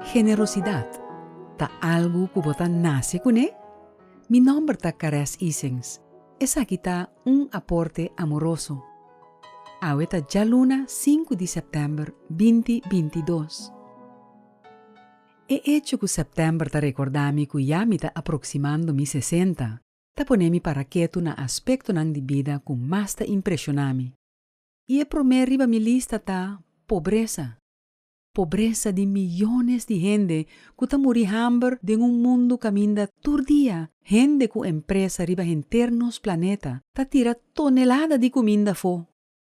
Generosidat ta algu ku bo ta nase kuné? Mi nòmber ta Caress Isings. Esaki ta un aporte amoroso. Awe ta djaluna sinku di sèptèmber binti binti dos. E echo ku sèptèmber ta rekordá mi ku ya mi ta aproksimando mi sesenta ta pone mi para ketu na aspektonan di bida ku mas ta impreshoná mi. I e promé riba mi lista ta pobresa. Pobresa di miyones di hende ku ta muri hamber den un mundu kaminda tur dia hende ku empresa riba henter nos planeta ta tira tonelada di kuminda afó.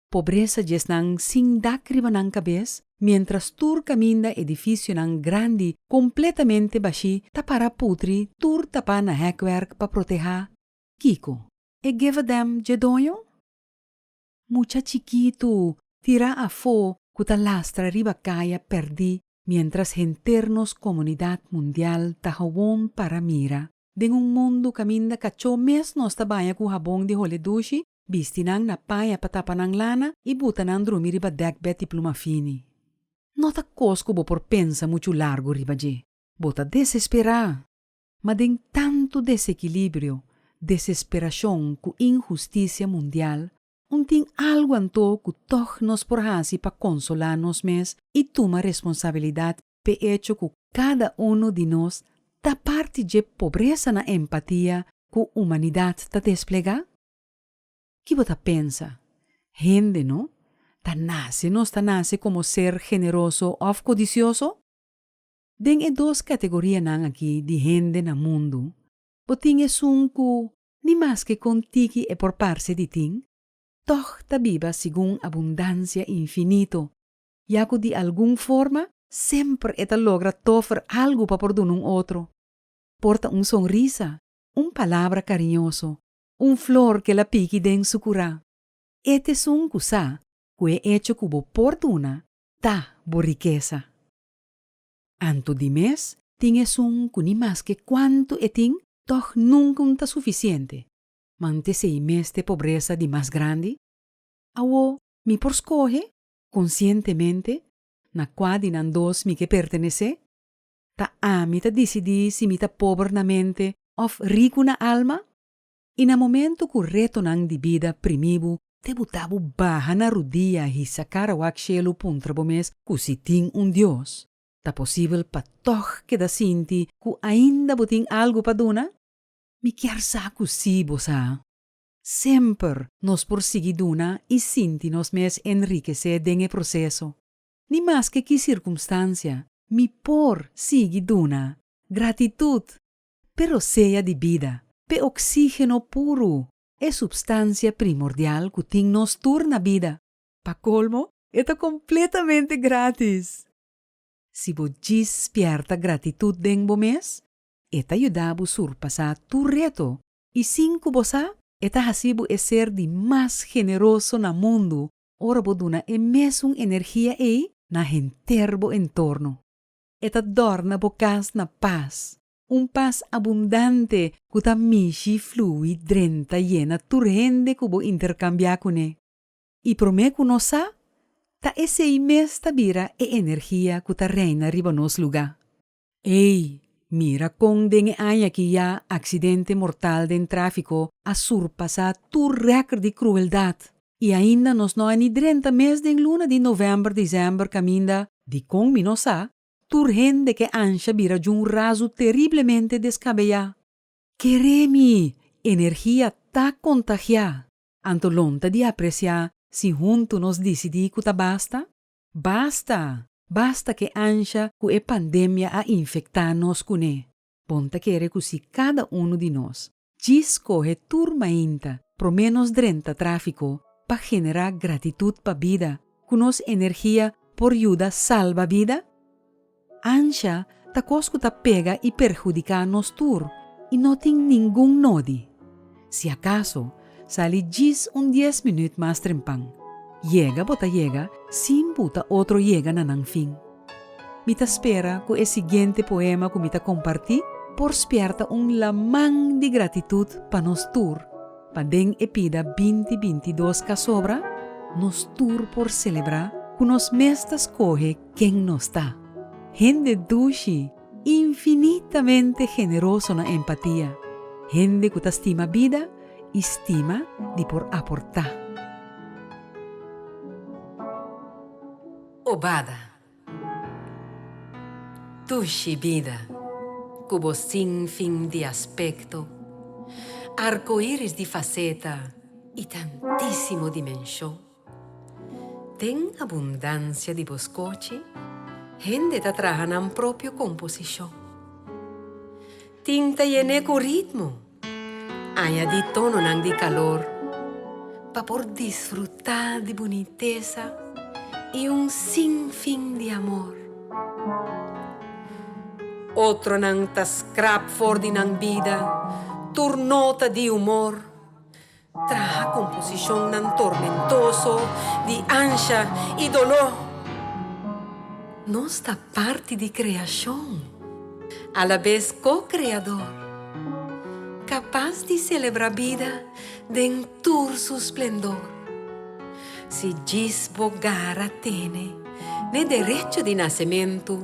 Pobresa djesnan sin dak riba nan kabes miéntras tur kaminda edifisionan grandi kompletamente bashí ta para putri tur tapá na hèkwerk pa protehá. Kiko? E gevadèm dje doño? Mucha chikitu tira afó ku ta lastra riba kaya pèrdí miéntras henter nos komunidat mundial ta howon para mira. Den un mundu kaminda kachó mes nos ta baña ku habon di hole dushi, bisti nan na paña pa tapa nan lana i buta nan drumi riba dèkbèd di pluma fini. No ta kos ku bo por pensa muchu largu riba dje. Bo ta desesperá! Ma den tantu desekilibrio, desesperashon ku inhustisia mundial, un tin algu anto ku tòg nos por hasi pa konsolá nos mes i tuma responsabilidat p'e echo ku kada unu di nos ta parti dje pobresa na empatia ku humanidat ta desplegá? Ki bo ta pensa? Hende no ta nase nos ta nase komo ser generoso òf kodisioso? Den e dos kategorianan aki di hende na mundu, bo tin esun ku ni maske kon tiki e por parse di tin, tòg ta biba segun abundansia infinito, ya ku di algun forma semper e ta logra tòfer algu pa por duna un otro. Por ta un sonrisa, un palabra kariñoso, un flor ku el a piki den su kurá. E ta esun ku sa ku e echo ku bo por duna ta bo rikesa. Anto di mes tin esun cu ni mas ke cuanto e tin, tog nunca un ta suficiente. Mante si ei mes t'e pobresa di mas grandi? Awo mi por scoge conscientemente na cua di nan dos mi ke pertenece? Ta ami ta dicidi si mi ta pober na mente of ricu na alma? I na momento ku retonan di bida primí bo te buta bo baha na rudia a hisa kara wak shelu puntra bo mes ku si tin un Dios, ta posibel pa tòg keda sinti ku ainda bo tin algu pa duna? Mi kier sa ku sí bo sa. Semper nos por sigui duna i sinti nos mes enrikesé den e proseso. Ni maske ki sirkumstansia, mi por sigui duna. Gratitut! Pero sea di bida, p'e oksígeno puru, e supstansia primordial ku tin nos tur na bida. Pa kolmo, e ta kompletamente grátis! Si bo dispierta gratitut den bo mes, e ta yuda bo surpasá tur reto i sin ku bo sa, e ta hasi bo e ser di mas generoso na mundu ora bo duna e mesun energia ei na henter bo entorno. E ta dòrna bo kas na pas, un pas abundante ku ta mishi, flui, drenta, yena tur hende ku bo interkambiá kuné. I promé ku nos sa, ta esei mes ta bira e energia ku ta reina riba nos lugá. Ei, mira kon den e aña ki ya aksidente mortal den tráfiko a surpasá tur rèkòrt di krueldat! I ainda nos no a ni drenta mes den luna di novèmber, desèmber kaminda, dikon mi no sa, tur hende ke ansha bira djun razu teriblemente deskabeá. Keré mi! Energia ta kontagiá! Anto lonta di apresiá si huntu nos disidí ku ta basta? Basta! Basta ke ansha ku e pandemia a infektá nos kuné! Bon ta kere ku si kada unu di nos, Djis cohe tur mainta, prome nos drenta trafico pa genera gratitud pa bida, cu nos energia por yuda salba bida? Ancha ta cos cu ta pega y perhudica nos tur y no tin ningun nodi. Si acaso, sali djis un dies minuut mas trempan. Yega bo ta yega sin buta otro yega na nan fin. Mi ta spera cu e siguiente poema cu mi ta comparti por spierta un laman di gratitud pa nos tur, pa den e pida binti binti dos casobra nos tur por celebra cu nos mes ta scoge ken nos ta, hende dushi, infinitamente generoso na empatia, hende cu ta stima bida y stima di por aporta. Obada. Tushi bida ku bo sin fin di aspekto, arkoiris di faseta i tantísimo dimenshon. Den abundansia di bo skochi, hende ta traha nan propio komposishon. Tin ta yené ku ritmo. Añadi tononan di kalor pa por disfrutá di bunitesa i un sin fin di amor. Otronan ta skrap for di nan bida tur nota di humor. Traha komposishonnan tormentoso di ansha i doló. Nos ta parti di kreashon, alabes ko-kreadó, kapas di selebrá bida den tur su splendor. Si djis bo gara tene n'e derecho di nasementu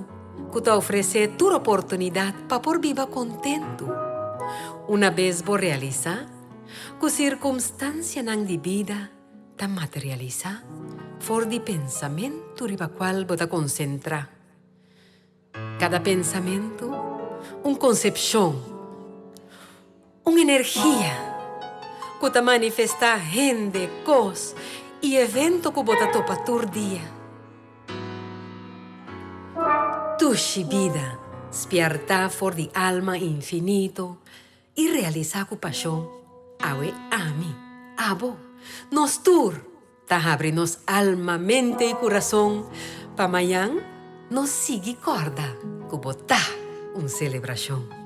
ku ta ofresé tur oportunidat pa por biba kontentu, unabes bo realisá, Ku sirkumstansianan di bida ta materialisá for di pensamentu riba kual bo ta konsentrá. Kada pensamentu, un konsepshon, un energia ku ta manifestá hende, kos i evento ku bo ta topa tur dia. Tushi bida spièrtá for di alma infinito I realisá ku pashon, Awe ami, abo, nos tur ta habri nos alma, mente i kurason pa mañan nos sigui kòrda ku bo ta un selebrashon.